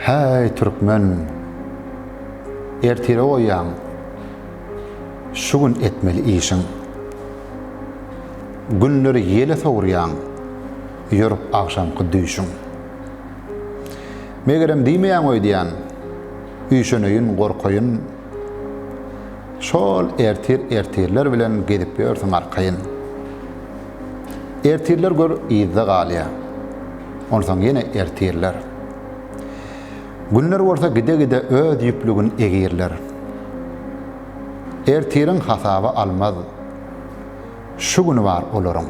Häý türkmen! Ertire goýýaň şu gün etmeli işiň. Günleri ýele sowurýaň ýörüp agşamky düýşüň. Megerem diýmeýäň öýdýän, üýşeneýin, gorkaýyn. Şol ertir-ertirler bilen gezip ýörsüň arkaýyn. Ertirler gör yzda galýa. Onsoň ýene ertirler. Günler bolsa gide-gide öz ýüplügin egirler. Ertiriň hasaba almaz. Şu güni bar olaryň.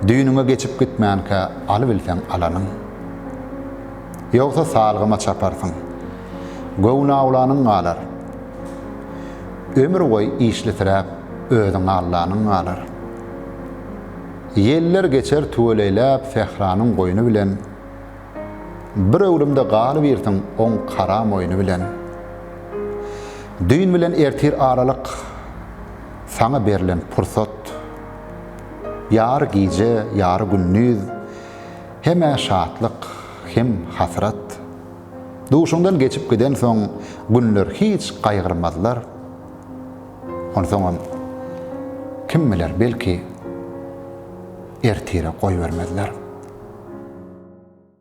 Düýnüňe geçip gitmänkä alybilseň alanyň. Ýogsa salgyma çaparsyň. Göwnaulanyň galar. Ömür boýy işlisiräp özüň Allanyň galar. Ýeller geçer tüweleýläp sähranyň goýny bilen, Bir öwrümde galybirsiň oň kara moýny bilen. Düýn bilen ertir aralyk, saňa berlen pursat, Ýary gije, ýary gündiz, hem-ä şatlyk, hem hasrat. Duşuňdan geçip gidensoň günler hiç gaýgyrmazlar. Onsoňam kim biler belki ertire goýbermezler.